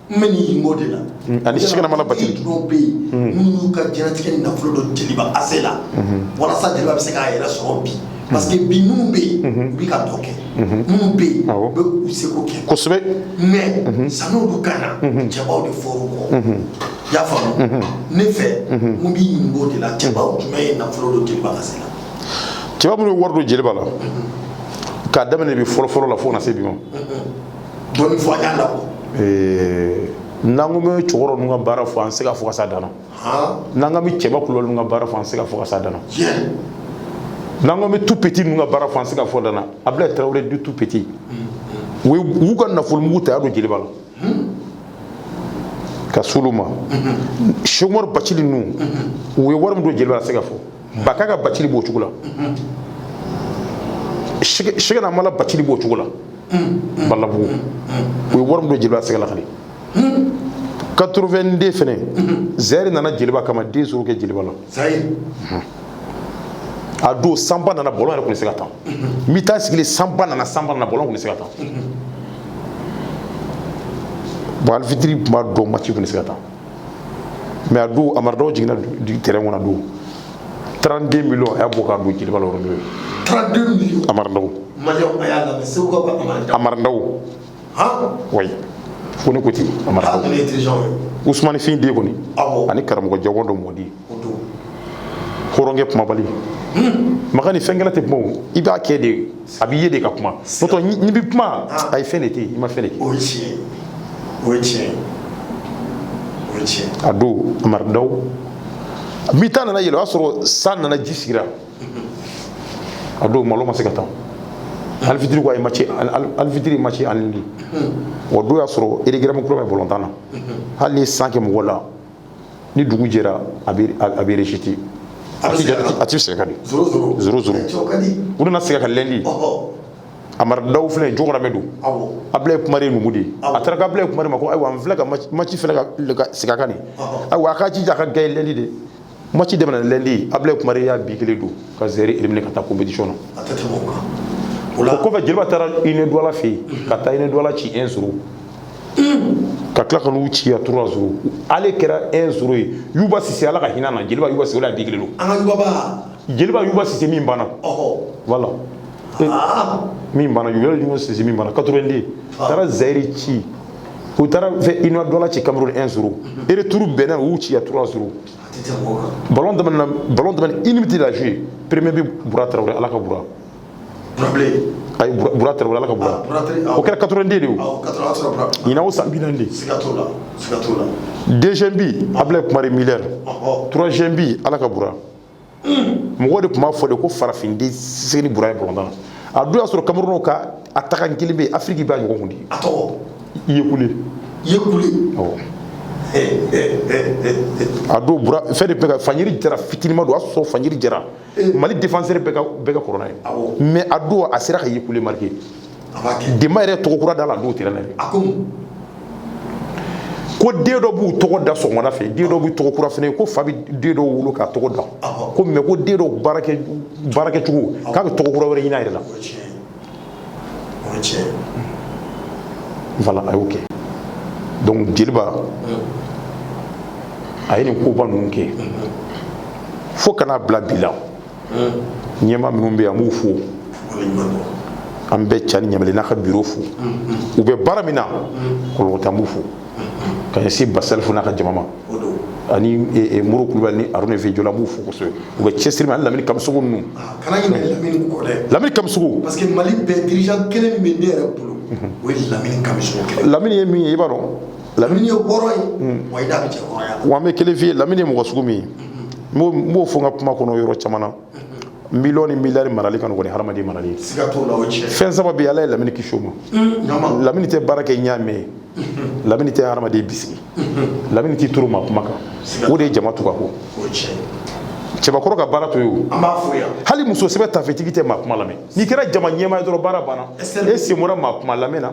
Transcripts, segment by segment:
N bɛ nin o de la ani sɛkina amala bacili ninnu bɛ yen n'u y'u ka jɛnɛtigɛ nafolo don jeliba ase la walasa jeliba bɛ se k'a yɛrɛ sɔrɔ bi parce que bi minnu bɛ yen u bɛ ka dɔ kɛ minnu bɛ yen u bɛ u seko kɛ kosɛbɛ mais san'olu ka na cɛbaw de fɔr'u kɔ i y'a faamu ne fɛ n bɛ ɲininka o de la cɛbaw jumɛn ye nafolo don jeliba ase la cɛba minnu ye wari don jeliba la k'a daminɛ bi fɔlɔfɔlɔ la fo ka na se bi ma dɔɔni fɔ an y'a la bon n'an ko bɛ cɛkɔrɔba ninnu ka baara fɔ an tɛ se ka fɔ ka s'a dan na n'an ko bɛ cɛba kulubali ninnu ka baara fɔ an tɛ se ka fɔ ka s'a dan na n'an ko bɛ tout petit ninnu ka baara fɔ an tɛ se ka fɔ dan na abilayi tarawele dit tout petit u y'u ka nafolomugu ta y'a don jeliba la ka s'olu ma sɛki umaru bacili ninnu u ye wari min don jeliba la a tɛ se ka fɔ bakaka bacili b'o cogo la sɛkina amala bacili b'o cogo la balabugu u ye wari min don jeliba la a tɛ se ka lakali 82 fɛnɛ zɛri nana jeliba kama deux zéro kɛ jeliba la a don sanba nana balɔn yɛrɛ tun tɛ se ka tan n bɛ taa sigilen sanba nana sanba nana balɔn tun tɛ se ka tan bon alifitiri tun b'a dɔn maci tun tɛ se ka tan mais a don amari daw jiginna tɛrɛn kɔnɔ a don 32 millions a y'a bɔ k'a don jeliba la yɔrɔ n'o ye 32 millions amari daw maliyɛnw a y'a lamɛn segu ka bɔ amari daw amari daw wayi ko ne ko ten amari daw usumani fin den kɔni ani karamɔgɔ jawando mɔdi hɔrɔnkɛ kumabali makan ni fɛnkɛla tɛ kuma o i b'a kɛ de a b'i ye de ka kuma n'o tɛ n'i bɛ kuma a ye fɛn de tɛ i ma fɛn de kɛ o ye tiɲɛ ye o ye tiɲɛ ye o ye tiɲɛ ye a don amari daw mi ta nana yɛlɛ o y'a sɔrɔ san nana ji sigira a don balɔn ma se ka tan alifitiri ko a ye maci alifitiri maci annulé o don y'a sɔrɔ règlement kura bɛ balɔntan na hali ni san kɛ mɔgɔ la ni dugu jɛra a bɛ a bɛ resiti a tɛ jate a tɛ segin ka di zoro zoro zoro zoro cɛw ka di u nana segin a kan lɛndi ɔhɔ amari daw filɛ jɔgɔramɛ don awɔ abilayi kumare ye numu de ye a taara ko abilayi kumare ma ko ayiwa n filɛ ka maci- maci filɛ ka le- ka segin a kan nin Ɔhɔ. ayiwa a k'a jija a ka gagner lɛndi de maci daminɛ lɛndi ye abilayi kumare y'a bi kelen don ka zɛri éliminer ka taa compétition na a tɛ tɛmɛ o kan o la o kɔfɛ jeliba taara union douala fɛ yen ka taa union douala ci un zéro ka tila ka n'u ci yan trois zéro ale kɛra un zéro ye yuba sise ala ka hinɛ na jeliba yuba sise o la bi kelen don an ka yubaba jeliba yuba sise min banna voilà ah. min banna yuba yuba sise min banna 82 ah. taara zayiri ci u taara fɛ union douala ci cameroun un zéro mhm. retour bɛnna u y'u ci yan trois zéro ballon daminɛ ballon daminɛ une minute la jouer premier bi bura tarawele ala ka bura ayi bura tarawele ala ka bura o kɛra 82 de ye o ɲinan o san bi naani de deuxième bi ablaye kumare milɛr troisième bi ala ka bura mɔgɔw de tun b'a fɔ de ko farafin den sise ni bura ye bɔlɔntan na a dun y'a sɔrɔ kamerunw ka attaquant kelen bɛ yen afiriki b'a ɲɔgɔn kun de a tɔgɔ yekule yekule awɔ a don bura fɛn de tun bɛ ka fanjiri jara fitinima don a sɔrɔ fanjiri jara eh. mali défenseur bɛɛ ka bɛɛ ka kɔrɔ n'a ye mais a don a sera ka yekule marquer denba yɛrɛ tɔgɔ kura da la a don terrain na ye ko den dɔ b'u tɔgɔ da sɔgɔmada fɛ den dɔ b'u tɔgɔ kura fana ko fa bɛ den dɔ wolo k'a tɔgɔ da ko mais ko den dɔ baarakɛ cogo k'a bɛ tɔgɔ kura wɛrɛ ɲini a yɛrɛ la Voilà a y'o kɛ donc jeliba a ye nin koba ninnu kɛ fo ka na bila bi la ɲɛmaa minnu bɛ yan an b'u fo an bɛ cani ɲamele n'a ka bureau fo u bɛ baara min na kɔlɔlɔ t'an b'u fo ka ɲɛsin basalifu n'a ka jama ma ani moro kulubali ni aruna fi jɔla an b'u fo kosɛbɛ u bɛ cɛsiri min ani lamini kamisogo ninnu lamini kamisogo parce que mali bɛɛ dirigeant kelen min bɛ ne yɛrɛ bolo o ye lamini kamisogo kelen lamini ye min ye i b'a dɔn lamini ye hɔrɔn ye wa i da bɛ cɛ hɔrɔnya wa an bɛ kelen f'i ye lamini ye mɔgɔ sugu min ye n b'o fɔ n ka kuma kɔnɔ yɔrɔ caman na miliyɔn ni miliyari marali ka nɔgɔn ni hadamaden marali ye fɛn saba bɛ ala ye lamini kisi o ma mm, lamini tɛ baara kɛ ɲaamɛ ye mm-hmm. lamini tɛ hadamaden bisigi mm-hmm. lamini t'i turu maa kuma kan o de ye jama tugu a kɔ cɛbakɔrɔ ka baara to yen o hali muso sɛbɛ tafetigi tɛ maa kuma lamɛn n'i kɛra jama ɲɛmaa ye dɔrɔn baara banna e sen bɔra maa kuma lamɛn na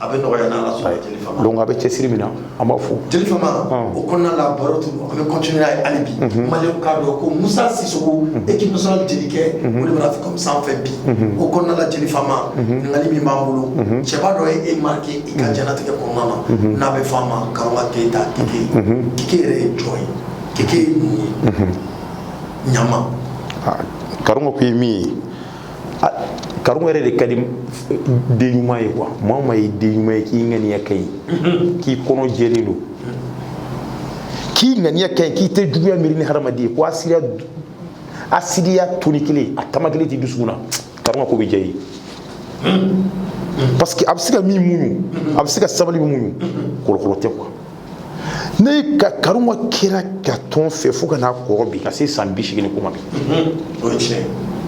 a bɛ nɔgɔya n'ala sɔnna jeli fama donc a bɛ cɛsiri min na an b'a fo jeli fama o kɔnɔna la baro tun an bɛ continuer n'a ye hali bi maliyɛnw k'a dɔn ko musa sisoko équipe nationale jelikɛ o de bɛna fɔ comme sanfɛ bi o kɔnɔna la jeli fama ɲininkali min b'an bolo cɛba dɔ ye e marquer i ka diɲɛnatigɛ kɔnɔna na n'a bɛ fɔ a ma karonga keyita keke keke yɛrɛ ye jɔn ye keke ye mun ye ɲama karonga ko ye min ye karunga yɛrɛ de ka di den ɲuman ye quoi maa o maa ye den ɲuman ye k'i ŋaniya ka ɲi k'i kɔnɔ jɛlen don k'i ŋaniya ka ɲi k'i tɛ juguya miiri ni hadamaden ye ko hasidiya toni kelen a tama kelen tɛ dusukun na karunga ko bɛ diya i ye parce que a bɛ se ka min muɲu a bɛ se ka sabali min muɲu kɔlɔkɔlɔ tɛ quoi ne ka karunga kɛra ka tɔn fɛ fo ka na kɔrɔ bi ka se san bi seegin ko ma bi o ye tiɲɛ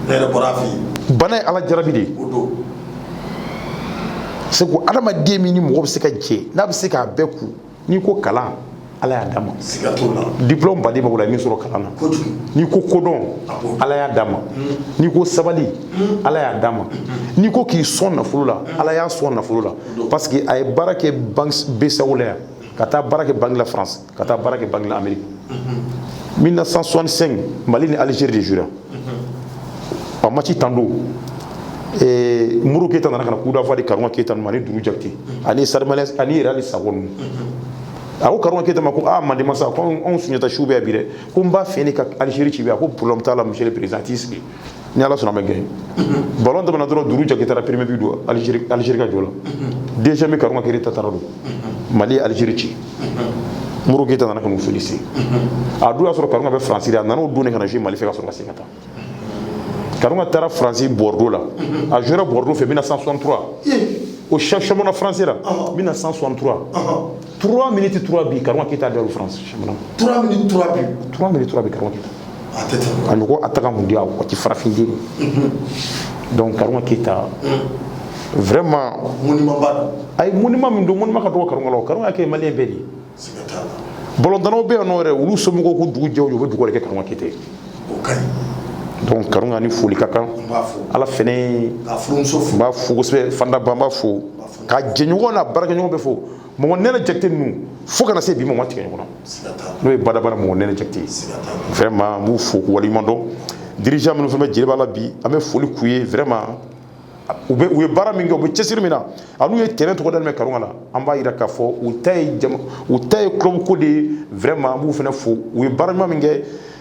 ne yɛrɛ bɔra a fɛ yen bana ye ala jarabi de ye o don c'est que adamaden min ni mɔgɔ bɛ se ka jɛ n'a bɛ se k'a bɛɛ kun n'i ko kalan ala y'a d'a ma siga t'o la diplôme ba de b'a bolo a ye min sɔrɔ kalan na kojugu n'i ko kodɔn ala y'a d'a ma n'i ko sabali ala y'a d'a ma n'i ko k'i sɔn nafolo la ala y'a sɔn nafolo la parce que a ye baara kɛ banque BCEAO la yan ka taa baara kɛ banque la France ka taa baara kɛ banque la Amérique 1965 Mali ni Algérie de jouera en match tan don eh, Modibo Keita nana ka na coup d'envoi di Karunga Keita ma ani Duru Jakite ani Sarimane ani yɛrɛ hali Sakɔ ninnu a ko Karunga Keita ma ko aa Mandenmasa ko anw Sunjata su bɛ yan bi dɛ ko n b'a fɛ ne ka Algérie ci bi a ko problème t'a la monsieur le président a t'i sigi ni ala sɔnna a bɛ gagner balon tɛmɛna dɔrɔn duru jakite taara premier bi don alizeri ka jɔ la deuxième bi karunga keyita taara don mali ye alizeri ci modibo keyita nana ka n'u féliciter a dun y'a sɔrɔ karunga bɛ faransi de a nana o don de ka na jouer mali fɛ ka sɔrɔ ka segin ka taa karunga taara faransi bordeaux la a jouera bordeaux fɛ 1963 au championnat français la 1963 3 minutes 3 bi Karunga Keyita da France championnat 3 minutes 3 bi 3 minutes 3 bi Karunga Keyita a tɛ tɛmɛ a ɲɔgɔn attaquant mondial waati farafin den mhm. donc Karunga Keyita mhm. vraiment monument ba don ayi monument min don monument ka dɔgɔ Karunga la o Karunga kɛ maliyɛn bɛɛ de ye siga t'a la balɔntannaw bɛ yan nɔ yɛrɛ olu somɔgɔw ko dugu jɛ o jɛ u bɛ dugawu de kɛ Karunga Keyita ye o ka ɲi donc Karunga ni foli ka kan ale fɛnɛ n b'a fo kosɛbɛ fandaba n b'a fo k'a jɛɲɔgɔn n'a baarakɛɲɔgɔn bɛɛ fo mɔgɔ nɛnɛ jakite ninnu fo ka na se bi ma ma tigɛ ɲɔgɔn na n'o ye badabada mɔgɔ nɛnɛ jakite ye vraiment n b'u fo k'u waleɲuman dɔn dirigeant minnu fɛnɛ bɛ jeliba la bi an bɛ foli k'u ye vraiment u bɛ u ye baara min kɛ u bɛ cɛsiri min na an'u ye terrain tɔgɔ dalen bɛ karunga la an b'a jira k'a fɔ u ta ye jama u ta ye club ko de ye vraiment an b'u fana fo u ye baara ɲuman min kɛ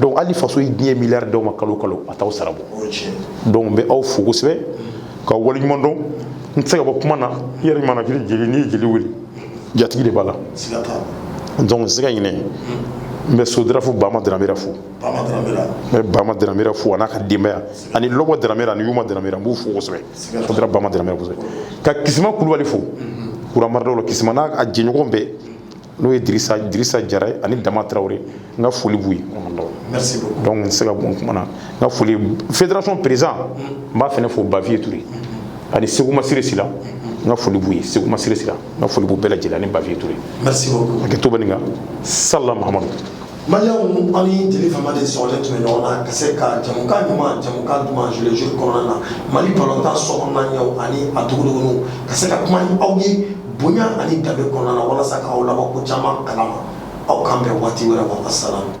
donc hali faso ye diɲɛ miliyari d'aw ma kalo o kalo a t'aw sara bɔ donc n bɛ aw fo kosɛbɛ k'aw waleɲuman dɔn n tɛ se ka bɔ kuma na i yɛrɛ ɲuman na kiri jeli n'i ye jeli wele jatigi de b'a la donc n tɛ se ka ɲinɛ n bɛ sodirafu bama daramera fo n bɛ bama daramera fo a n'a ka denbaya ani lɔbɔ daramera ani yuma daramera n b'u fo kosɛbɛ sodira bama daramera kosɛbɛ ka kisima kulubali fo kuramaridaw la kisima n'a a jɛɲɔgɔn bɛɛ n'o ye dirisa jara ye ani dama tarawele ye n ka foli b'u ye dɔnku n tɛ se ka bɔ n kuma na n ka foli federasɔn perezidan n b'a fana fo baviye ture ani seku masire sila n ka foli b'u ye seku masire sila n ka foli b'u bɛɛ lajɛlen ani baviye ture hakɛto bɛ nin kan sala mahamadu Maliyɛnw aw ni jeli fama de sɔrɔlen tun bɛ ɲɔgɔn na ka se ka jamukan ɲuman jamukan duman jouer le jeu kɔnɔna na mali balontan sokɔnɔna ɲɛw ani a duguduguniw ka se ka kuma aw ye bonya ani danbe kɔnɔna na walasa k'aw labɔ ko caman kalama aw k'an bɛn waati wɛrɛ ko asalam